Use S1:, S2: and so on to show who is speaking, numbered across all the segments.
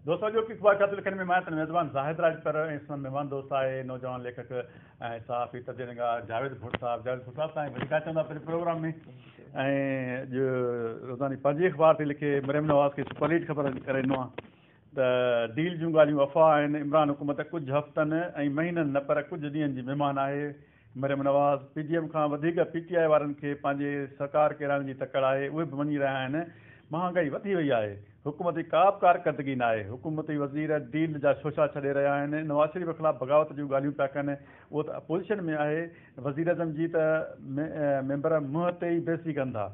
S1: دوستو اڄوڪي اخبارچاطو لکڻ ۾ ماهيت ميزبان زاهد راڄپر ۽ سندن مهمان دوست آهي نوجوان ليکڪ ۽ صحافي تدين نگار جاويد ڀٽ صاحب جاويد ڀٽ صاحب سائين وڌيڪ اچو ٿا پنهنجي پروگرام ۾ ۽ اڄ روزاني پنهنجي اخبار تي لکي مريم نواز کي سپر ليڊ خبر ڪري ڏنو آهي ته ڊيل جون ڳالهيون افواهه آهن عمران حڪومت ڪجهه هفتن ۽ مهينن نه پر ڪجهه ڏينهن جي مهمان آهي Maryam Nawaz, P D M کان وڌيڪ پي ٽي آء وارن کي پنهنجي سرڪار ڪيرائڻ جي تڪڙ آهي، اهي به مڃي رهيا آهن، مهانگائي وڌي وئي آهي، حڪومت جي ڪا به ڪارڪردگي ناهي، حڪومتي وزير ڊيل جا شوشا ڇڏي رهيا آهن، نواز شريف خلاف بغاوت جون ڳالهيون پيا ڪن، اهو ته اپوزيشن ۾ آهي، وزيراعظم جي ته ميمبر منهن تي ئي بيعزتي ڪن ٿا،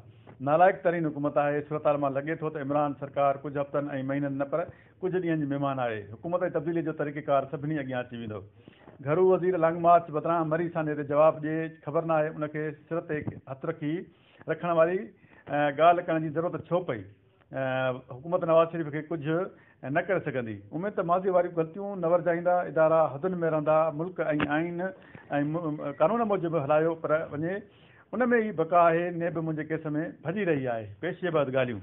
S1: نالائق ترين حڪومت آهي، صورتحال مان لڳي ٿو ته عمران سرڪار ڪجهه هفتن ۽ مهينن نه پر ڪجهه ڏينهن جي مهمان آهي، حڪومت جي تبديلي جو طريقيڪار سڀني اڳيان اچي ويندو. گهرو وزير لانگ مارچ بدران مري سانحي تي جواب ڏئي خبر ناهي ان کي سر تي هٿ رکي رکڻ واري ڳالهه ڪرڻ جي ضرورت ڇو پئي. حڪومت نواز شريف کي ڪجهه نه ڪري سگهندي. اميد ته ماضي واريون غلطيون نه ورجائيندا، ادارا حدن ۾ رهندا، ملڪ ۽ آئين ۽ قانون موجب هلايو پر وڃي ان ۾ ئي بقا آهي نيب منهنجي ڪيس ۾ ڀڄي رهي آهي، پيشي بعد ڳالهيون.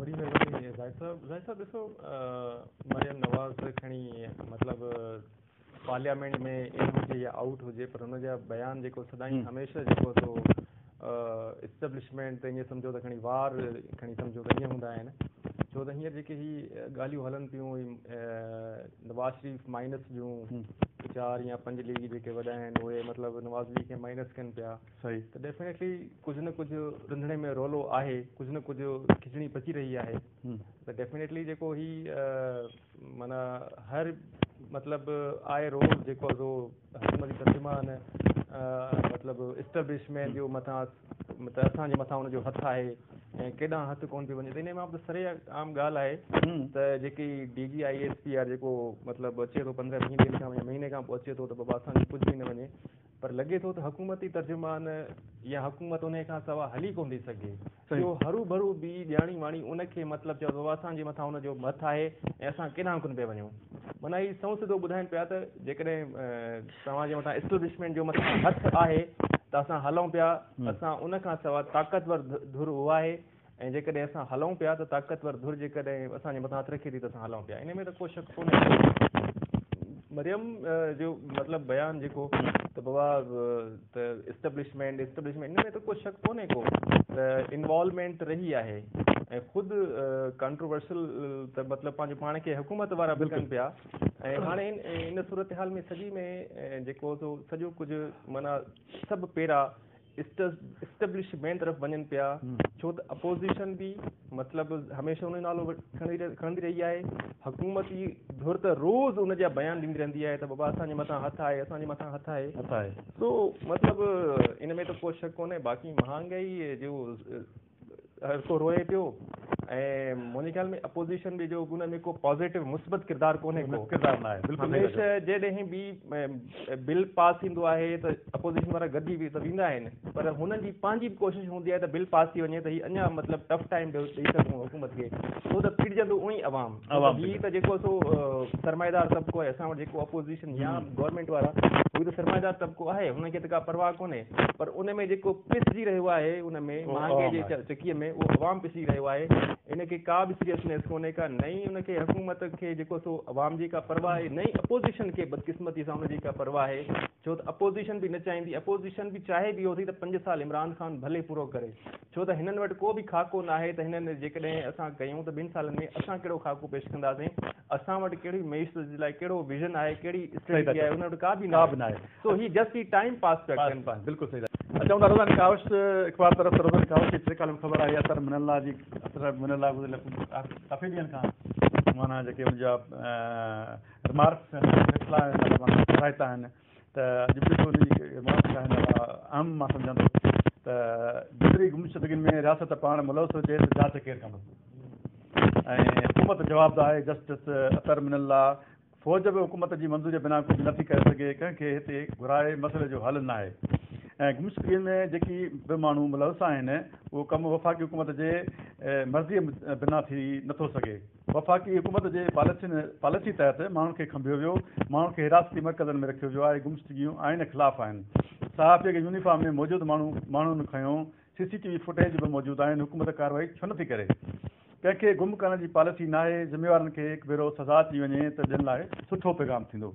S1: وڏي مهرباني زاهد صاحب.
S2: زاهد صاحب ڏسو مريم نواز کڻي مطلب پارليامينٽ ۾ ان هجي يا آئوٽ هجي پر ان جا بيان جيڪو سدائين هميشه جيڪو سو اسٽيبلشمينٽ تي ائين سمجهو ته کڻي وار کڻي سمجهو ته ائين هوندا آهن ڇو ته هينئر جيڪي هي ڳالهيون هلن پيون نواز شريف مائنس جون چار يا پنج ليگ جيڪي وڏا آهن اهي مطلب نواز ليگ کي مائنس ڪن پيا صحيح ته ڊيفينيٽلي ڪجهه نه ڪجهه رنڌڻي ۾ رولو آهي ڪجهه نه ڪجهه کچڙي پچي رهي آهي ته ڊيفينيٽلي جيڪو هي معنيٰ هر مطلب آء روز جيڪو ازو حڪومت جي ترجمان مطلب اسٽبلشمينٽ جو مٿان مطلب اسان جي مٿان ان جو هٿ آهي ۽ ڪيڏانهن هٿ ڪون پيو وڃي ته ان مان سري عام ڳالهه آهي ته جيڪي D G I S P R جيڪو مطلب اچي ٿو پندرهن ويهه ڏينهن کان مهيني کان پوء اچي ٿو ته بابا اسان جي ڪجهه به نه وڃي پر لڳي ٿو ته حڪومتي ترجمان يا حڪومت انهيء کان سواء هلي ڪونه ٿي سگهي. اهو هرو ڀرو بي ڄاڻي واڻي ان کي مطلب چئو ته بابا اسان جي مٿان ان جو هٿ آهي ۽ اسان ڪيڏانهن ڪونه پيا وڃون. معنيٰ هي سنئون سڌو ٻڌائين پيا ته جيڪڏهن توهان جي مٿان اسٽيبلشمينٽ جو مٿان هٿ آهي ته اسان هلون پيا، اسان ان کان سواء طاقتور ڌر اها آهي، ۽ جيڪڏهن اسان هلون پيا ته طاقتور ڌر جيڪڏهن اسان جي مٿان هٿ رکي ٿي ته اسان هلون پيا. انهيء ۾ ته ڪو شڪ ڪونهي ته مريم جو مطلب بيان جيڪو ته بابا ته اسٽبلشمينٽ اسٽبلشمينٽ انهيء ۾ ته ڪو شڪ ڪونهي ڪو ته انوالومينٽ رهي آهي ۽ خود ڪانٽروورسل ته مطلب پنهنجو پاڻ کي حڪومت وارا به ڪن پيا ۽ هاڻي ان صورتحال ۾ سڄي ۾ جيڪو سو سڄو ڪجهه معنيٰ سڀ پيرا اسٽيبلشمينٽ طرف وڃن پيا ڇو ته اپوزيشن به مطلب هميشه ان جو نالو کڻندي رهي آهي حڪومت جي ڌر ته روز ان جا بيان ڏيندي رهندي آهي ته بابا اسان جي مٿان هٿ آهي اسان جي مٿان هٿ آهي سو مطلب ان ۾ ته ڪو شڪ ڪونهي باقي مهانگائي جو هر ڪو روئي پيو ۽ منهنجي خيال ۾ اپوزيشن به جو ان ۾ ڪو پازيٽو مثبت ڪردار ڪونهي ڪو ڪردار ناهي بلڪل هميشه
S1: جيڏهن
S2: به بل پاس ٿيندو آهي ته اپوزيشن وارا گڏجي به ته ويندا آهن پر هنن جي پنهنجي به ڪوشش هوندي آهي ته بل پاس ٿي وڃي ته هي اڃا مطلب ٽف ٽائيم ڏئي سگهون حڪومت کي ڇو ته پيڙجندو اونئي عوام عوام به ته جيڪو سو سرمائيدار طبقو آهي اسان وٽ جيڪو اپوزيشن يا گورنمينٽ وارا اهي ته سرمائيدار طبقو آهي انهن کي ته ڪا پرواهه ڪونهي پر ان ۾ جيڪو پسجي رهيو آهي ان ۾ مهانگي جي چڪي ۾ اهو عوام پسجي رهيو آهي ان کي ڪا به سيريسنيس ڪونهي ڪا نه ئي ان کي حڪومت کي جيڪو سو عوام جي ڪا پرواهه آهي نه ئي اپوزيشن کي بدقسمتي سان ان جي ڪا پرواهه آهي ڇو ته اپوزيشن به نه چاهيندي اپوزيشن به چاهي به اهو ٿي ته پنج سال عمران خان ڀلي پورو ڪري ڇو ته هنن وٽ ڪو به خاڪو ناهي ته هنن جيڪڏهن اسان ڪيون ته ٻن سالن ۾ اسان ڪهڙو خاڪو پيش ڪنداسين، اسان وٽ ڪهڙي معيشت جي لاء ڪهڙو ويزن آهي، ڪهڙي اسٽريٽجي آهي، هنن وٽ ڪا به ناهي سو هي جسٽ هي ٽائيم پاس پيا ڪن. بلڪل صحيح ٿا چئو
S1: روزاني ڪاوش اخبار طرف ته روزاني ڪاوش جي ٽي ڪالم خبر آهي عطر من الله جي عطر من الله گذريل ڪافي ڏينهن کان معنيٰ جيڪي ان جا رمارڪس آهن رسلا آهن ساهتا آهن ته اڄ به ان جي منافي لاهڻ لاء اهم مان سمجهان ٿو ته جيتري گمشدگين ۾ رياست پاڻ ملوث هجي ته جاچ ڪير ڪندو ۽ حڪومت جواب ده آهي جسٽس عطر من الله فوج به حڪومت جي منظوري بنا ڪجهه نه ٿي ڪري سگهي ڪنهن کي هتي گهرائي مسئلي جو حل ناهي ۽ گمشدگين ۾ جيڪي به ماڻهو ملوث آهن اهو ڪم وفاقي حڪومت جي مرضي بنا ٿي نه ٿو سگهي. وفاقي حڪومت جي پاليسين پاليسي تحت ماڻهن کي کنڀيو ويو، ماڻهن کي حراستي مرڪزن ۾ رکيو ويو آهي، گمشدگيون آئين خلاف آهن، صحافي کي يونيفارم ۾ موجود ماڻهو ماڻهن کنيو، C C T V footage به موجود آهن، حڪومت ڪارروائي ڇو نٿي ڪري؟ ڪنهن کي گم ڪرڻ جي پاليسي ناهي، ذميوارن کي هڪ ڀيرو سزا اچي وڃي ته ٻين لاء سٺو پيغام ٿيندو.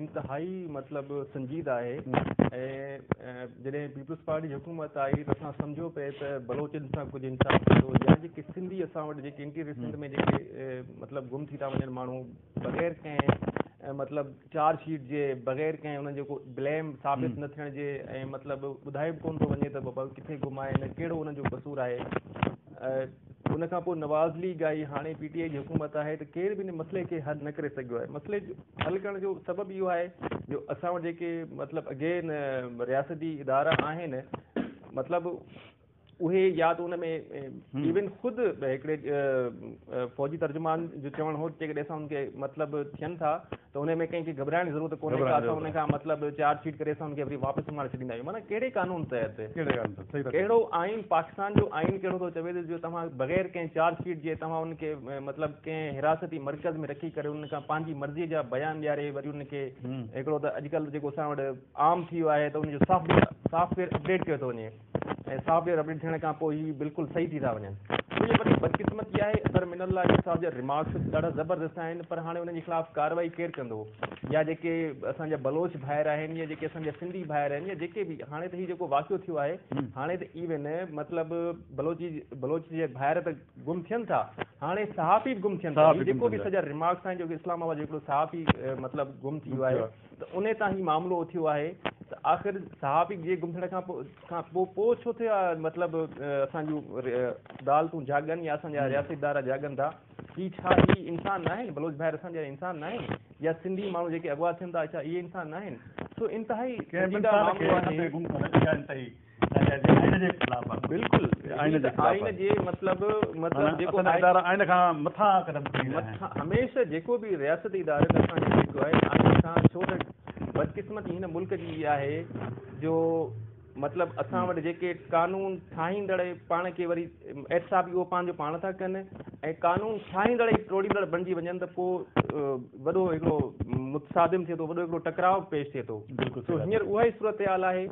S2: انتهائي مطلب سنجيده آهي ۽ جڏهن پيپلز پارٽي جي حڪومت آئي ته اسان سمجهيو پئي ته بلوچن سان ڪجهه انصاف ٿيندو يا جيڪي سنڌي اسان وٽ جيڪي انٽي ريسنٽ ۾ جيڪي مطلب گم ٿي ٿا وڃن ماڻهو بغير ڪنهن مطلب چارج شيٽ جي بغير ڪنهن انهن جو ڪو بليم ثابت نه ٿيڻ جي ۽ مطلب ٻڌايو به ڪونه ٿو وڃي ته بابا ڪٿي گم آهن ڪهڙو انهن جو قصور آهي ان کان پوء نواز ليگ آئي، هاڻي پي ٽي آئي جي حڪومت آهي ته ڪير به ان مسئلي کي حل نه ڪري سگهيو آهي. مسئلي جو حل ڪرڻ جو سبب اهو آهي جو اسان وٽ جيڪي مطلب اڳي رياستي ادارا آهن مطلب اهي يا ته ان ۾ ايون خود هڪڙي فوجي ترجمان جو چوڻ هو جيڪڏهن اسان ان کي مطلب ٿين ٿا ته انهي ۾ ڪنهن کي گهٻرائڻ جي ضرورت ڪونهي ڪا اسان انهن کان مطلب چارج شيٽ ڪري اسان انهن کي وري واپس سمهاري ڇڏيندا آهيون معنيٰ ڪهڙي قانون تحت ڪهڙو آئين پاڪستان جو آئين ڪهڙو ٿو چوي ته جو توهان بغير ڪنهن چارج شيٽ جي توهان انهن کي مطلب ڪنهن حراستي مرڪز ۾ رکي ڪري انهن کان پنهنجي مرضي جا بيان ڏياري وري انهن کي هڪڙو ته اڄڪلهه جيڪو اسان وٽ عام ٿي ويو آهي ته ان جو software software update ڪيو ٿو وڃي ۽ صاحب جي رٻڙي ٿيڻ کان پوء هي بلڪل صحيح ٿي ٿا وڃن. منهنجي وڏي بدقسمتي آهي اظهر من الله علي صاحب جا ريمارڪس ڏاڍا زبردست آهن پر هاڻي انهن جي خلاف ڪارروائي ڪير ڪندو يا جيڪي اسان جا بلوچ ڀائر آهن يا جيڪي اسان جا سنڌي ڀائر آهن يا جيڪي به هاڻي ته هي جيڪو واقعو ٿيو آهي هاڻي ته ايون مطلب بلوچي بلوچ جي ڀائر ته گم ٿين ٿا هاڻي صحافي به گم ٿين ٿا هي جيڪو به اسان جا ريمارڪس آهن جيڪو اسلام آباد جو هڪڙو صحافي مطلب گم ٿي ويو آهي ته انهي تان هي معاملو اٿيو آهي ته آخر صحابي جي گم ٿيڻ کان پوء کان پوء پوء ڇو ٿي آ مطلب اسان جون عدالتون جاڳن يا اسان جا رياستي ادارا جاڳن ٿا هي ڇا هي انسان ناهن بلوچ ڀائر اسان جا انسان ناهن يا سنڌي ماڻهو جيڪي اغوا ٿين ٿا ڇا اهي انسان ناهن سو انتهائي سنجيده معاملو آهي ته جي آئين جي خلاف آهي بلڪل آئين جي خلاف آئين جي مطلب مطلب جيڪو اسان جا ادارا آئين کان
S1: مٿان قدم کڻي رهيا آهن. هميشه جيڪو
S2: به رياستي ادارن اسان کي روڪيو آهي آئين کان ڇو ته بدقسمتي هن ملڪ جي اها آهي جو مطلب اسان وٽ جيڪي قانون ٺاهيندڙ پاڻ کي وري احتساب اهو پنهنجو پاڻ ٿا ڪن ۽ قانون ٺاهيندڙ ئي ٽوڙيندڙ بڻجي وڃن ته پوء وڏو هڪڙو متصادم ٿئي ٿو وڏو هڪڙو ٽڪراء پيش ٿئي ٿو سو هينئر اها ئي صورتحال آهي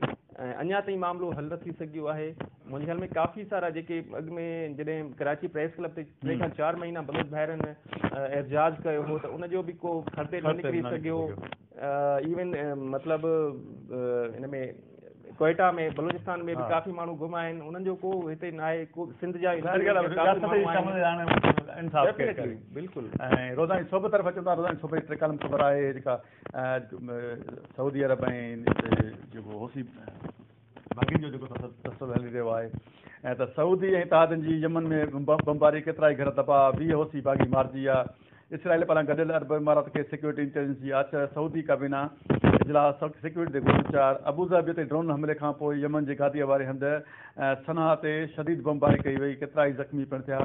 S2: ۽ اڃا تائين معاملو حل نه ٿي سگهيو آهي. منهنجي خيال ۾ ڪافي سارا جيڪي اڳ ۾ جڏهن ڪراچي پريس ڪلب تي ٽي کان چار مهينا بلوچ ڀائرن احتجاج ڪيو هو ته ان جو به ڪو خرطي نه نڪري سگهيو. ايون مطلب ان ۾ ڪوئيٽا ۾ بلوچستان ۾ به ڪافي ماڻهو گم آهن انهن جو ڪو هتي نه آهي ڪو سنڌ جا ڊيفنيٽلي بلڪل ۽ روزاني
S1: صحبه طرف اچو ٿا روزاني صحبه جي ٽي ڪالم خبر آهي جيڪا سعودي عرب ۽ جيڪو حوثي ڀاڳين جو جيڪو تسلسل هلي رهيو آهي ۽ ته سعودي ۽ اتحادين جي يمن ۾ بمباري ڪيترائي گهر تباهه، ويهه حوثي باغي مارجي ويا، اسرائيل پاران گڏيل عرب امارات کي سيڪيورٽي انٽيليجنس جي آڇ، سعودي ڪابينا اجلاس، سيڪيورٽي تي گوشو چار، ابوظهبي تي ڊرون حملي کانپوء يمن جي گاديء واري هنڌ صنعاء تي شديد بمباري ڪئي وئي، ڪيترائي زخمي پڻ ٿيا.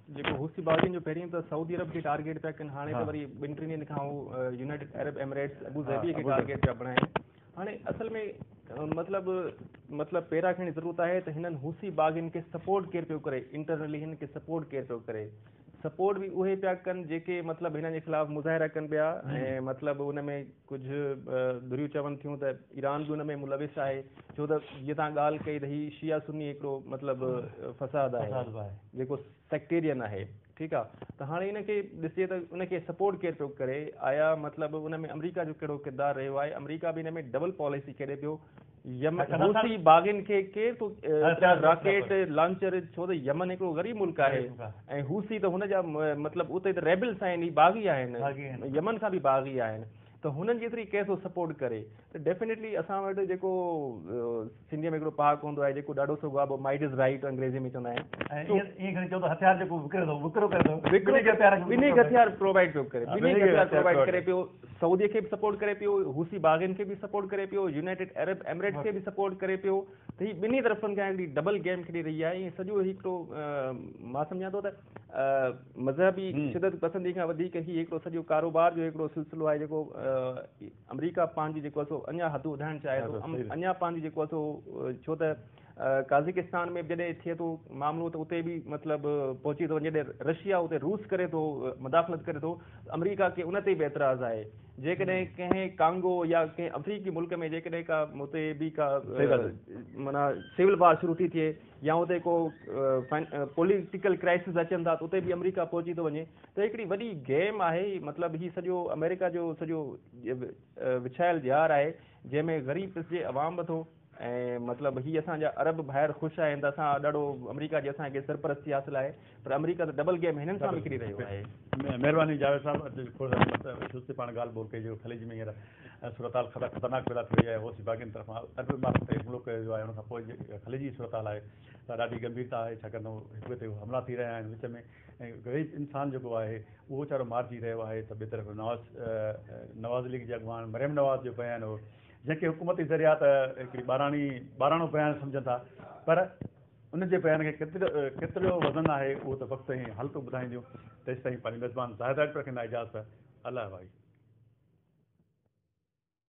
S2: جيڪو حوثي باغين جو پهرين ته سعودي عرب کي ٽارگيٽ پيا ڪن هاڻي ته وري ٻن ٽن ڏينهن کان هو United Arab Emirates Abu Dhabi کي ٽارگيٽ پيا بڻائين هاڻي اصل ۾ مطلب مطلب پيرا کڻي ضرورت آهي ته هنن حوثي باغين کي سپورٽ ڪير پيو ڪري انٽرنلي هن کي سپورٽ ڪير پيو ڪري سپورٽ به اهي پيا ڪن جيڪي مطلب هنن جي خلاف مظاهرا ڪن پيا ۽ مطلب ان ۾ ڪجهه ڌريون چون ٿيون ته ايران به ان ۾ ملوث آهي ڇو ته جيئن توهان ڳالهه ڪئي ته هي شيعه سني هڪڙو مطلب فساد آهي جيڪو سيڪٽيرين آهي ٺيڪ آ ته هاڻي ان کي ڏسجي ته ان کي سپورٽ ڪير پيو ڪري آيا مطلب ان ۾ آمريڪا جو ڪهڙو ڪردار رهيو آهي آمريڪا به ان ۾ ڊبل پاليسي کيڏي پيو يمن حوثي باغين کي ڪير ٿو راڪيٽ لانچر ڇو ته يمن هڪڙو غريب ملڪ آهي ۽ حوثي ته هن جا مطلب اتي ته ريبلس آهن هي باغي آهن يمن کان به باغي آهن ته هنن جي اتري ڪير ٿو سپورٽ ڪري ته ڊيفينيٽلي اسان وٽ جيڪو سنڌي ۾ هڪڙو پهاڪ هوندو آهي جيڪو ڏاڍو سگهو آبو مائيڊ از رائيٽ انگريزي ۾ چوندا آهن ائين ڪري چئو ته هٿيار جيڪو وڪري ٿو وڪرو ڪري ٿو وڪرو ڪري ٿو ٻنهي کي هٿيار پرووائيڊ پيو ڪري ٻنهي کي هٿيار پرووائيڊ ڪري پيو سعودي کي به سپورٽ ڪري پيو، حوثي باغين کي به سپورٽ ڪري پيو، يونائيٽيڊ عرب ايمريٽس کي به سپورٽ ڪري پيو ته هي ٻنهي طرفن کان هڪڙي ڊبل گيم کيڏي رهي آهي ۽ سڄو هي هڪڙو مان سمجهان ٿو ته مذهبي شدت پسندي کان وڌيڪ هي هڪڙو سڄو ڪاروبار جو هڪڙو سلسلو آهي جيڪو آمريڪا پنهنجي جيڪو سو اڃا حدون وڌائڻ چاهي ٿو اڃا پنهنجي جيڪو سو ڇو ته قازقستان ۾ به جڏهن ٿئي ٿو معاملو ته اتي به مطلب پهچي ٿو وڃي جڏهن رشيا اتي روس ڪري ٿو مداخلت ڪري ٿو ته آمريڪا کي ان تي به اعتراض آهي جيڪڏهن ڪنهن ڪانگو يا ڪنهن آفريڪي ملڪ ۾ جيڪڏهن ڪا اتي به ڪا معنيٰ سول وار شروع ٿي ٿئي يا اتي ڪو پوليٽيڪل ڪرائسز اچن ٿا ته اتي به آمريڪا پهچي ٿو وڃي ته هڪڙي وڏي گيم آهي مطلب هي سڄو آمريڪا جو سڄو وڇايل ڄار آهي جنهن ۾ غريب پسجي عوام به ٿو ۽ مطلب هي اسان جا عرب ڀائر خوش آهن ته اسان ڏاڍو آمريڪا جي اسان کي سرپرستي حاصل آهي پر آمريڪا ته ڊبل گيم هنن سان به کيڏي رهيو آهي. مهرباني جاويد
S1: صاحب اڄ کور سان مت سستي پاڻ ڳالهه ٻولهه ڪجو خليج ۾ هينئر صورتحال کٿا خطرناڪ پيدا ٿي وئي آهي حوثي باغين طرفان عرب عمارت تي حملو ڪيو ويو آهي ان کان پوء جي خليج جي صورتحال آهي سا ڏاڍي گنڀيرتا آهي ڇاڪاڻ ته هڪ ٻئي تي حملا ٿي رهيا آهن وچ ۾ ۽ غريب انسان جيڪو آهي اهو ويچارو مارجي رهيو آهي ته ٻئي طرف نواز نواز ليگ جي اڳواڻ مريم نواز جو بيان هو جنهن کي حڪومتي ذريعا ته هڪڙي ٻاراڻي ٻاراڻو بيان سمجهن ٿا پر ان جي بيان کي ڪيتريو وزن آهي اهو ته وقت ۽ حالتون ٻڌائينديون تيستائين پنهنجي ميزبان زاهد آرٽر کي نااجازت الله وائي.